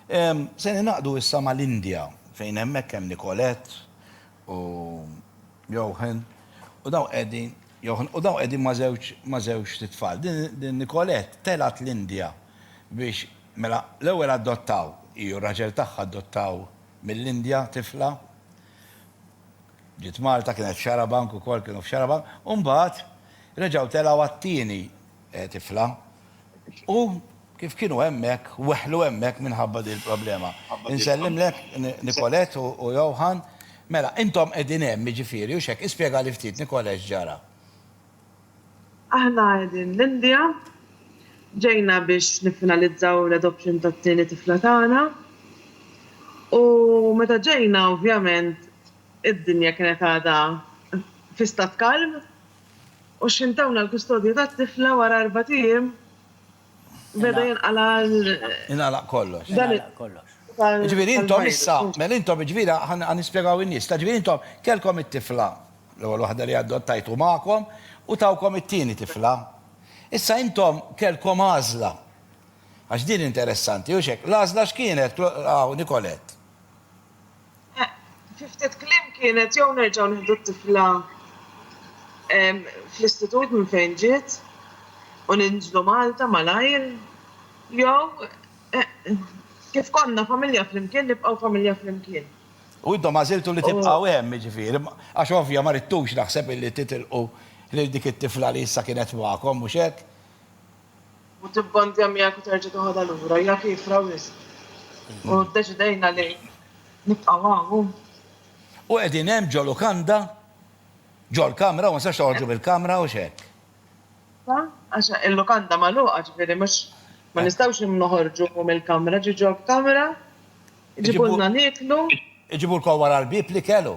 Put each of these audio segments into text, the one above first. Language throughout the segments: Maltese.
Se ningħaqdu issa mal-Indja fejn hemmhekk hemm Nicolette u Jochen u dawn qegħdin Jochen u dawn qegħdin ma' żewġ ma' żewġt itfal. Din din Nicolette telgħet l-Indja biex mela l-ewwel adottaw hi u r-raġel tagħha adottaw mill-Indja tifla. Ġiet Malta kienet f'Xarabank ukoll kienu f'Xarabank u mbagħad reġgħu telgħu għat-tieni tifla, u kif kienu hemmhekk, weħlu hemmhekk minħabba din il-problema. Insellimlek Nicolette u Johan. Mela, intom qegħdin hemm, jiġifieri, hux hekk? Ispjegali ftit, Nicolette, x'ġara. Aħna qegħdin l-Indja, ġejna biex niffinalizzaw l-adoption tat-tieni tifla tagħna, u meta ġejna ovvjament id-dinja kienet għadha fi stat kalm, U x'ħin tawna l-kustodja tat-tifla wara erbat ijiem beda jinqala' l. Ingħalaq kollox. Dan it. Jiġifieri intom issa, mela intom jiġifieri ħa nispjegaw in-nies, ta' jiġifieri intom kellkom it-tifla, l-ewwel waħda li addottajtu magħkom u tawkom it-tieni tifla. Issa intom kellkom għażla. Għax din interessanti, hux hekk? L-għażla x'kienet, Nicolette? Fi ftit kliem kienet jew nerġgħu nieħdu t-tifla fl-istitut minn fejn ġiet u ninżlu Malta malajr jew kif konna familja flimkien nibqgħu familja flimkien. U intom għażiltu li tibqgħu hemm jiġifieri għax ovvja ma ridtux naħseb illi titilqu lil dik it-tifla li issa kienet magħkom mhux hekk? u tibbandja miegħek u terġa' toħodha lura hija kiefra wisq. U ddeċidejna li nibqgħu hawn. U qegħdin hemm ġo lukanda, ġo l-kamra, u ma nistax toħorġu mill-kamra u x'hekk. Għax il-lukanda magħluqa, ġifieri mhux ma nistgħux noħorġu mill-kamra, ġi ġo l-kamra, iġibulna nieklu. Iġibulkom wara l-bieb l-ikel u.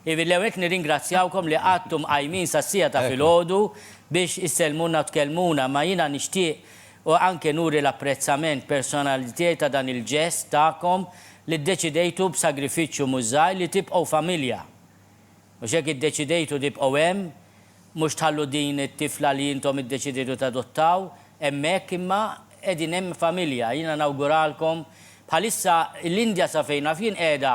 Ivi, l-ewwel nett nirringrazzjawkom li qgħadtu mqajmin sas-siegħa ta' filgħodu biex issellmulna u tkellmuna, imma jiena nixtieq anke nuri l-apprezzament personali tiegħi ta' dan il-ġest tagħkom li ddeċidejtu b'sagrifiċċju mhux żgħir li tibqgħu familja. Mhux hekk iddeċidejtu tibqgħu hemm, mhux tħallu din it-tifla li intom iddeċidejtu tadottaw hemmhekk imma qegħdin hemm familja. Jiena nawguralkom, bħalissa l-Indja sa fejn naf jien qiegħda,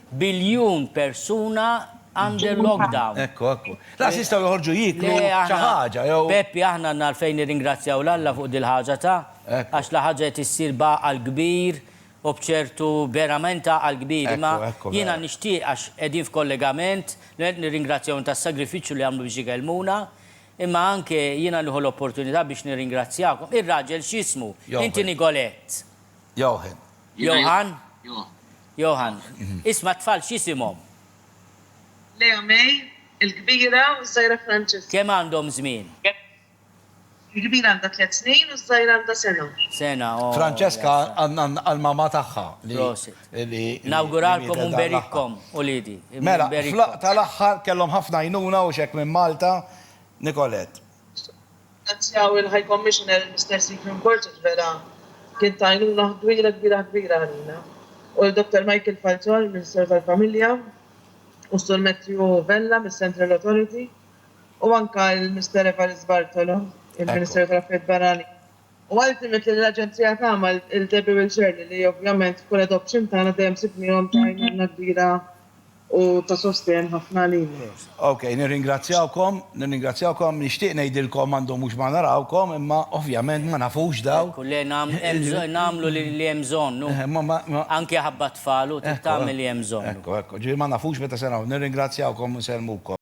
Biljun persuna under lockdown. Ekku, ekku. Laqas jistgħu joħorġu jieklu xi ħaġa jew. Peppi aħna għandna għalfejn nirringrazzjaw 'l Alla fuq dil-ħaġa ta', għax la ħaġa qed issir b'għaqal kbir u b'ċertu verament għaqal kbir imma jiena nixtieq għax qegħdin f'kollegament, nirringrazzjahom tas-sagrifiċċju li għamlu biex ikellmuna, imma anke jiena nieħu l-opportunità biex nirringrazzjakom. Ir-raġel x'ismu? Inti Nicolette. Jochen. Johan? Johann, Isma' t-tfal x'isimhom? Lea May, il-kbira, u ż-żgħira Francesca. Kemm għandhom żmien? Il-kbira għandha tliet snin u ż-żgħira għandha sena. Sena, oh. Francesca għall-mamma tagħha li. Prosit. Nawguralkom u nberikkom, uliedi. Mela, fl-laqgħa tal-aħħar kellhom ħafna għajnuna u x'hekk minn Malta, Nicolette. Nirringrazzjaw il-High Commissioner il-Mister Stephen Borges vera kien ta' għajnuna kbira kbira kbira għalina u l-Dottor Michael Falzon il-Ministeru tal-Familja u s-Sur Matthew Vella mis-Central Authority u anke l-Mister Evarist Bartolo il-Ministeru tal-Affarijiet Barranin u ultimately lill-Aġenzija tagħna lil Debbie Will Shirley li ovvjament f'kull adoption tagħna dejjem sibniehom ta' għajnuna kbira u ta' sostenn ħafna għalina. Ok, nirringrazzjawkom, nirringrazzjawkom, nixtieq ngħidilkom għandhom mhux ma narawkom imma ovvjament ma nafux dawn. Ekku, le nagħmlu li hemm bżonn u anke ħabba t-tfal u tagħmel li hemm bżonn. Ekku, ekku, ekku, ġifieri ma nafux meta se naraw, nirringrazzjawkom u nsellmukom.